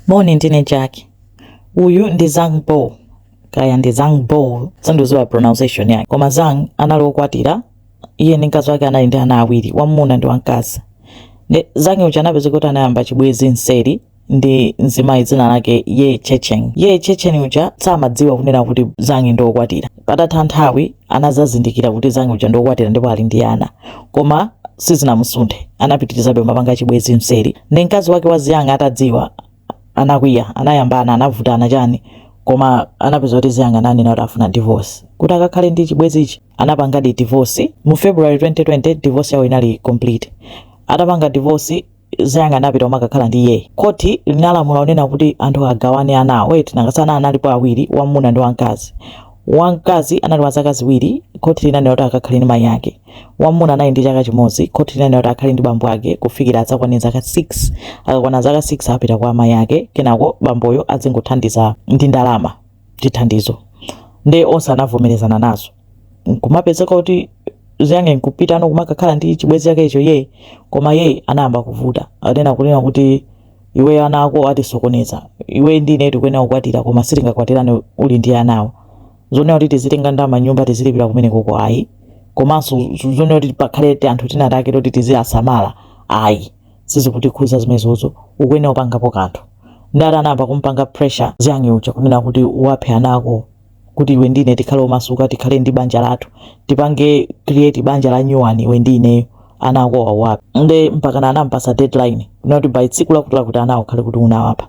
Moni ndine Jack uyu ndi Zhang Bo kaya ndi Zhang Bo sindikudziwa pronunciation yake koma Zhang anali okwatira iye ndi mkazi wake anali ndi ana awiri wamuna ndi wamkazi nde Zhang uja anapeza kuti anayamba chibwezi mseri ndi mzimayi dzina lake Ye Chengchen Ye Chengchen uja samadziwa kunena kuti Zhang ndi okwatira Patatha nthawi, anadzazindikira kuti Zhang uja ndiokwatira ndipo ali ndi ana. Koma sizinamusunthe, anapitirizabe kumapanga chibwezi mseri. Nde mkazi wake wa Zhang atadziwa, anakwiya, anayambana, anavutana chani koma anapeza kuti Zhang ananena kuti afuna divorce kuti akakhale ndi chibwezichi. Anapangadi divorce mu February 2020, divorce yawo inali complete. Atapanga divorce, Zhang anapita umakakhala ndi Ye. Khoti linalamula kunena kuti anthu agawane anawo. Wait, nanga si ana analipo awiri, wamuna ndi wamkazi. Wamkazi anali wa zaka ziwiri, khoti linanena kuti akakhale ndi mayi ake. Wamuna anali ndi chaka chimodzi, khoti linanena kuti akhale ndi bambo ake kufikira adzakwane zaka 6. Akakwana zaka 6 apita kwa amayi ake, kenako bamboyo azingothandiza ndi ndalama. chithandizo nde onse anavomerezana nazo nkumapezeka kuti Zhang nkupitano kumakakhala ndi chibwezi chake icho Ye koma Ye anayamba kuvuta anena kunena kuti iwe ana ako akutisokoneza iwe ndi ine tikuyenera kukwatira koma sitingakwatirane uli ndi anawo zonena kuti tizitenga ndalama m'nyumba tizilipira kumeneko ko ayi komanso zonena kuti pakhale tianthu tinatake toti tiziwasamala ayi sizikutikhuza zimenezozo ukuyenera kupangapo kanthu nde akuti anayamba kumpanga pressure Zhang uja kunena kuti uwaphe ana ako kuti iwe ndi ine tikhale omasuka tikhale ndi banja lathu tipange create banja la nyuwani iwe ndi ineyo ana ako uwaphe nde mpakana anampasa deadline yoti by tsiku lakuti lakuti ana ukhale kuti unawapa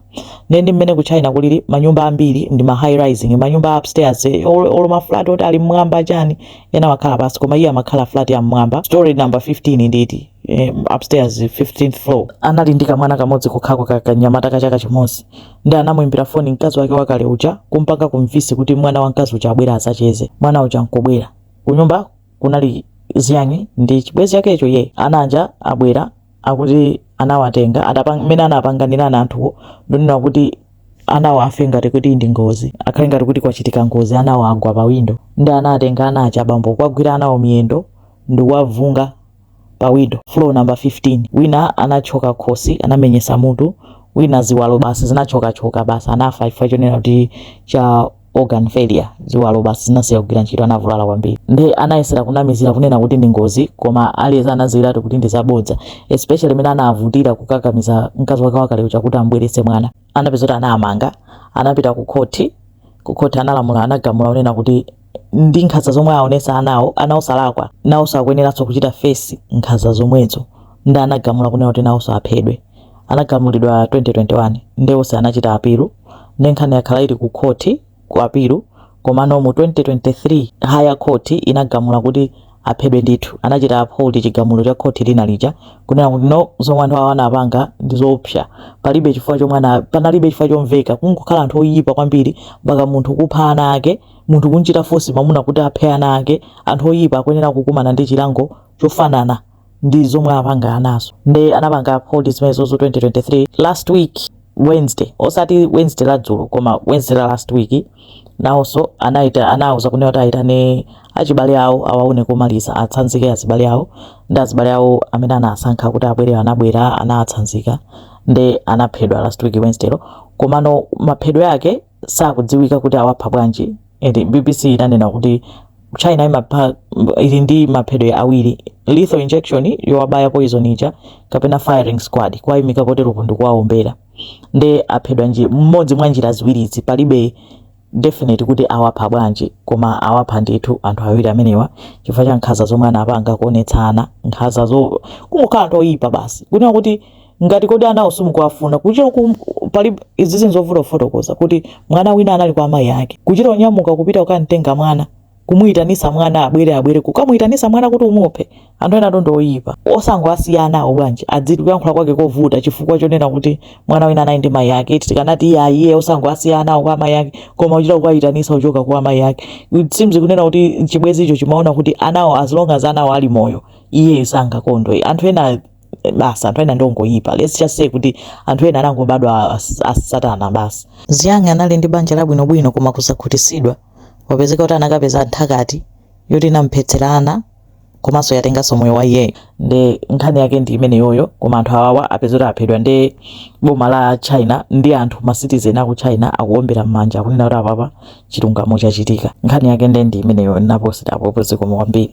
nde ndi mmene ku China kulili manyumba ambiri ndi ma high rising manyumba a upstairs eh, olo olo maflat oti ali mmwamba chani ena amakhala pansi koma iye amakhala flat ya mmwamba story number 15 nditi eh, upstairs 15th floor anali ndi kamwana kamodzi kokhako ka kanyamata ka chaka chimodzi nde anamuimbira foni mkazi wake wakale uja kumpanga convince kuti mwana wamkazi uja abwere azacheze mwana uja nkubwera kunyumba kunali Zhang ndi chibwezi chakecho Ye ana aja abwera akuti anawatenga atapanga mmene anapanganira anthuwo ndonena kuti anawo afe ngati kuti ndi ngozi akhale ngati kuti kwachitika ngozi anawo agwa pa windo nde anatenga ana aja abambo kuwagwira anawo miyendo ndikuwavunga pa windo floor number 15 wina anathyoka khosi anamenyesa mutu wina ziwalo basi zinathyokathyoka basi anafa chifukwa chonena kuti cha organ failure ziwalo basi zinasiya kugwira ntchito anavulala kwambiri nde anayesera kunamizira kunena kuti ndi ngozi koma aliyense anadziwiratu kuti ndi zabodza especially mmene anavutira kukakamiza mkazi wake wakale uja kuti ambweretse mwana anapezeka kuti anamangidwa anapita ku khoti ku khoti analamula anagamula kunena kuti ndi nkhanza zomwe aonesa anawo ana osalakwa nawo sakuyeneranso kuchita fesi nkhanza zomwezo nde anagamula kunena kuti nawonso aphedwe anagamulidwa 2021 nde onse anachita apilu nde nkhani yakhala ili ku khoti ku apilu komano mu 2023 higher court inagamula kuti aphedwe ndithu inachita uphold chigamulo cha khoti lina lija kunena kuti no zomwe anthu awa anapanga ndi zoopsa palibe chifukwa chomwe ana- panalibe chifukwa chomveka kungokhala anthu oyipa kwambiri mpaka munthu kupha ana ake munthu kunchita fosi mamuna kuti aphe ana ake anthu oyipa akuyenera kukumana ndi chilango chofanana ndi zomwe apanga anazo nde anapanga uphold zimenezozo 2023 last week wednesday osati wednesday la dzulo koma wednesday la last week nawonso anaita anawauza kunena kuti aitane azibale awo awaone komaliza atsanzike azibale awo ndi azibale awo amene anasankha kuti abwere anabwera anatsanzika nde anaphedwa last week wednesday lo komano maphedwe ake sakudziwika kuti awapha bwanji and bbc inanena kuti china imapha ili ndi maphedwe awiri lethal injection yowabaya poison ija kapena firing squad kuwayimika poteropo ndikuwawombera nde aphedwa ndi imodzi mwa njira ziwirizi palibe definite kuti awapha bwanji koma awapha ndithu anthu awiri amenewa chifukwa cha nkhaza zomwe anapanga kuonetsa nkhazazo kungokhala anthu oyipa basi kunena kuti ngati kodi anawo simukuwafuna kuchita uku pali izi zinthu zovuta kufotokoza kuti mwana wina anali kwa amayi ake kuchita onyamuka kupita kukamtenga mwana kumuyitanisa mwana abwere abwere kukamuyitanisa mwana kuti umuphe anthu ena ndongoyipa osangowasiya anawo bwanji adziti kuyankhula kwake kovuta chifukwa chonena kuti mwana wina anali ndi mayi ake eti tikanati iyeyo osangowasiya anawo kwa amayi ake koma kuchita kukayitanisa kuchoka kwa amayi ake it seems kunena kuti chibwezicho chimaona kuti anawo as long as anawo ali moyo iye sangakondwe anthu ena basi anthu ena ndongoyipa let's just say kuti anthu ena anangobadwa asatana basi zhang anali ndi banja labwinobwino koma kusakhutisidwa wapezeka kuti anakapeza nthakati yoti yamphetsera ana komanso yatenganso moyo wa iyeyo nde nkhani yake ndi imeneyoyo koma anthu awawa apeza kuti aphedwa nde boma la china ndi anthu ma citizen aku china akuombera mmanja akunena kuti apapa chilungamo chachitika nkhani yake nde ndi imeneyo ndaposita apopo zikomo kwambiri